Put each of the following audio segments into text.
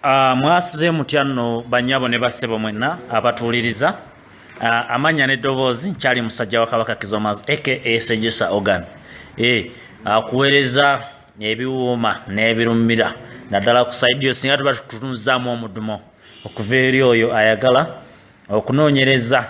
Ah, mwasuze mutya nno banyabo ne bassebo mwenna abatuwuliriza ah, amannya n'eddoboozi nkyali musajja wa kabaka kizomas aka sejusa organ eh, akuweereza ebiwuuma n'ebirumira naddala ku saidi yo singa tuba tutunuzaamu omudumo okuva eri oyo ayagala okunoonyereza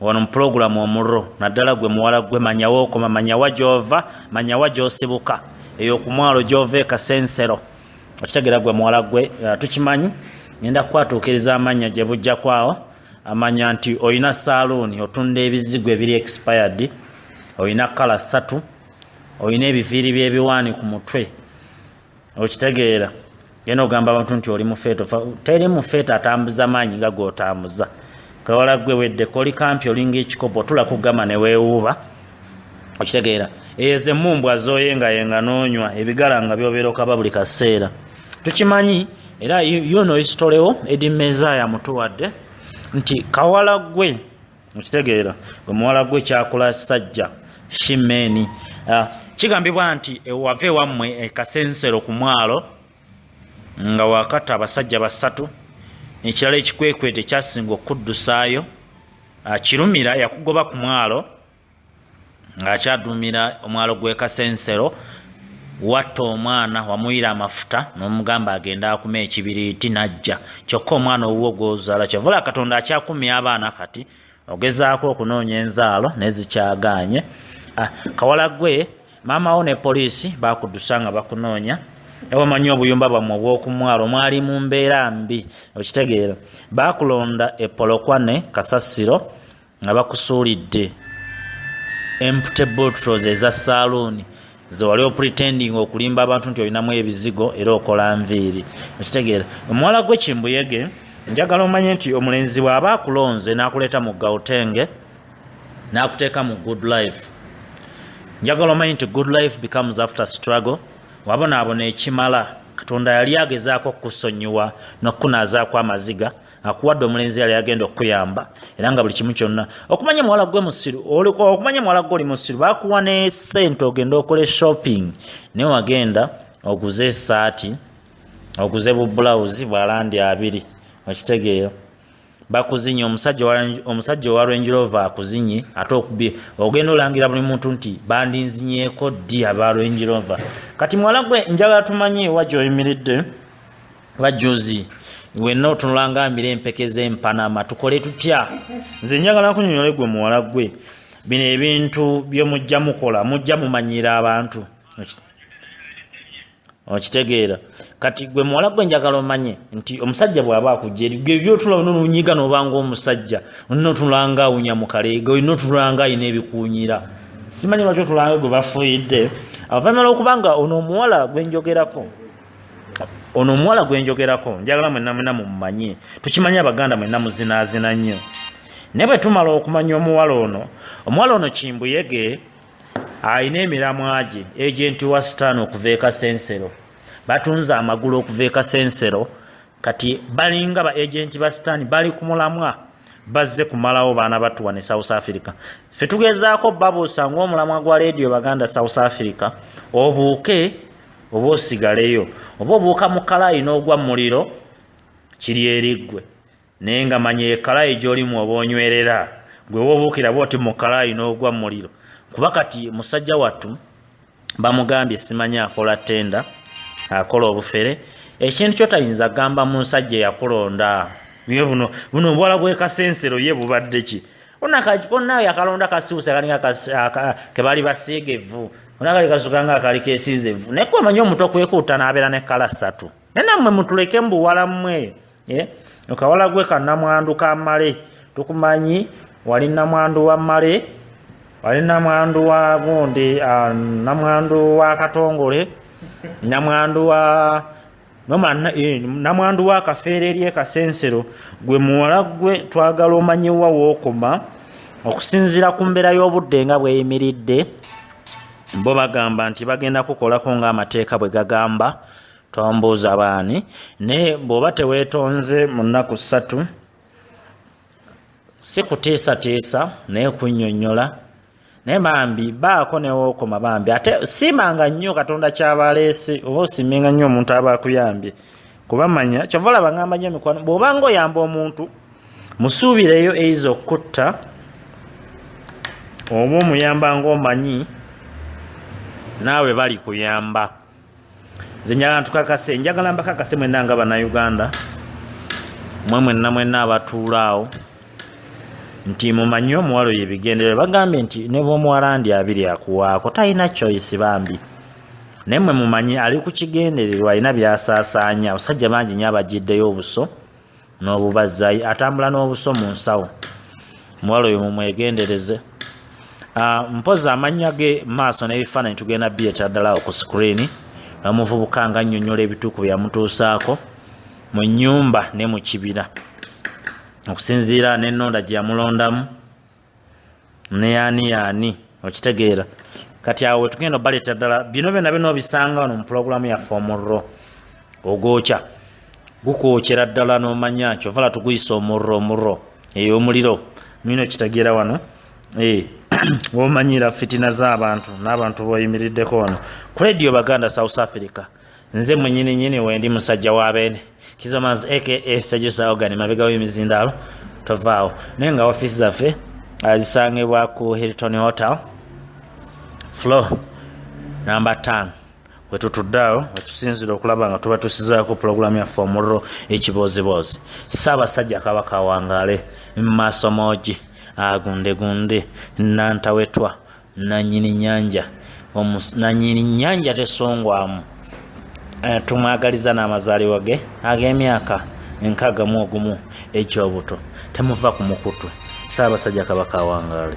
wano mu pulogulamu omurro naddala gwe muwala gwe manyawa okoma manyawa gyova manyawa gyosibuka eyo kumwalo gyova ekasensero okitegera gwe muwala gwe uh, tukimanyi ngenda kukwatuukiriza amannya gye bujja kwawo amanya nti olina saaluuni otunda ebizigo ebiri expired olina kala ssatu olina ebiviiri by'ebiwaani ku mutwe okitegeera genda ogamba abantu nti oli mufeeto teri mufeeto atambuza maanyi nga gwotambuza kawala gwe weddeko oli kampi olinga ekikopo otula kugamba newewuuba okitegeera eyo zemumbwa zoye nga yenga nonywa ebigala nga byobeera okaba buli kaseera tukimanyi era yono isitolewo edi mezaya mutuwadde nti kawala gwe okitegeera omuwala gwe kyakola sajja shimeni ah, kigambibwa nti ewava ewammwe ekasensero ku mwalo nga wakata abasajja basatu ekirala ekikwekweto ekyasinga okuddusaayo akirumira ah, yakugoba ku mwalo ng'akyaduumira omwalo gw'e kasensero watta omwana wamuyira amafuta n'omugamba agenda akuma ekibiriiti n'ajja kyokka omwana owuwo gw'ozaala kyovula katonda akyakumya abaana kati ogezaako okunoonya enzaalo nezikyagaanye ah, kawala gwe maama wo ne poliisi bakudusa nga bakunoonya ewamanyi obuyumba bwamwe obw'okumwalo mwali mu mbeera mbi okitegeera bakulonda epolokwane kasasiro nga bakusuulidde empty bottles eza saaluuni zewali opretending okulimba abantu nti olinamu ebizigo era okola nviiri okitegeera omuwala gwe kimbuyege njagala omanye nti omulenzi bw'aba akulonze n'akuleeta mu gautenge n'akuteeka mu good life njagala omanye nti good life becomes after struggle wabonaabona ekimala katonda yali agezaako okukusonyiwa n'okukunaazaako amaziga akuwadde omulenzi yali agenda okukuyamba era nga buli kimu kyonna okumanya muwala gwe musiru okumanya muwala gwe oli musiru bakuwa ne sente ogenda okole shopping naye wagenda oguze esaati oguze bubulawuzi bwalandi abiri okitegeera bakuzinye omusajja owa rwenjirova akuzinye ate okubye ogenda olangira buli muntu nti bandinzinyeko ddi aba rwenjirova kati muwala gwe njagala tumanye wa gyoyimiridde bajjozi wenna otunula nga mbira empeke z'empanama tukole tutya nze njagala kunyonyola gwe muwala gwe bino ebintu bye mujja mukola mujja mumanyiira abantu okitegeera kati gwe muwala gwe njagala omanye nti omusajja bw'aba akujja eri gwe byotula olina olunyiga n'obanga omusajja olina otunula nga awunya mu kaleega olina otunula nga alina ebikuunyira simanyi lwaki otulanga gwe bafuuyidde avanyuma lw'okubanga ono omuwala gwe njogerako ono omuwala gwe njogerako njagala mwenna mwena mumumanye tukimanyi abaganda mwenna muzinaazina nnyo naye bwe tumala okumanya omuwala ono omuwala ono kimbuyege alina emiramwa gye egenti wa sitaani okuva e kasensero batunze amagulu okuva e kasensero kati balinga ba agenti ba sitaani bali ku mulamwa bazze kumalawo baana batuwa ne south africa fe tugezaako babuusa ngaomulamwa gwa leediyo baganda south africa obuuke oba osigaleyo oba obuuka mu kalayi n'ogwa muliro kiri eriggwe naye nga manya ekalayi gyolimu oba onywerera gwe wobuukira bwoti mu kalayi n'ogwa muliro kuba kati musajja wattu bamugambye simanyi akola tenda akola obufere ekintu kyotayinza gamba mu nsajja yakulonda ye buno buno obwala bwekasensero ye bubadde ki onakona yakalonda kasiwusa kalinga kebali basiiga evvu onakali kasuka nga akali kesiiza evvu naye kuba manyi omuto kwekuuta nabeera ne kala satu naye nammwe mutuleke mu buwala mmwe eh? okawala gwe ka namwandu ka male tukumanyi wali namwandu wa male wali namwandu wa gundi ah, namwandu wa katongole namwandu wa nomana eh, namwandu wa kafeere eri ekasensero gwe muwala gwe twagala omanyiwa wookoma okusinziira ku mbeera y'obudde nga bweyimiridde bo bagamba nti bagenda kukolako ng'amateeka bwe gagamba tombuuza baani naye bw'oba teweetonze mu nnaku ssatu si kutiisatiisa naye kunnyonnyola naye bambi baako newookoma bambi ate siimanga nnyo katonda kyaba aleese oba osiimenga nnyo omuntu aba akuyambye kuba manya kyova olaba ngamba nnyo mikwano bw'oba nga oyamba omuntu musuubireyo eiza okukutta oba omuyamba ngaomanyi naawe bali kuyamba nze njagala ntukakase njagala mbakakase mwenna nga bannayuganda mwe mwenna mwenna abatuula awo nti mumanyi omuwalo yebigendere bagambye nti ne bwomuwalandi abiri akuwaako talina choice bambi naye mwe mumanyi ali ku kigendererwa alina byasaasaanya abasajja bangi nyo abagiddeyo obuso n'obubazzayi atambula n'obuso mu nsawo muwala oyo mumwegendereze ah, mpozi amannya ge maaso n'ebifaananyi tugenda bireeta ddala ku sikuriini nomuvubuka nga annyonnyola ebituuku byeyamutuusaako mu nnyumba ne mu kibira okusinziira n'ennonda gye yamulondamu ne yaani yaani okitegeera kati awo wetugenda obaleetera ddala bino byona byona obisanga wano mu pulogulaamu yaffe omurro ogwokya gukwokyera ddala nomanya kyovala tuguyisa omurro omurro eyo eh, omuliro nina okitegeera wano eh, womanyira fitina z'abantu n'abantu boyimiriddeko wano ku radio baganda south africa nze mwenyini nyini wendi musajja wa beene kizomaz aka sejusa ogani mabega w'emizindaalo tovaawo naye nga ofiisi zaffe azisangibwa uh, ku hilton hotel flo namba 5 wetutudde awo wetusinzira okulaba nga tuba tusizaako pulogulaamu yaffe omuliro ekibooziboozi ssaabasajja kabaka awangaale maaso moogi agundegunde nantawetwa nanyini nyanja nanyini nyanja tesongwamu eh, tumwagaliza n'amazaalibwa ge ag'emyaka enkaaga mu ogumu egy'obuto temuva ku mukutu saabasajja kabaka awangaale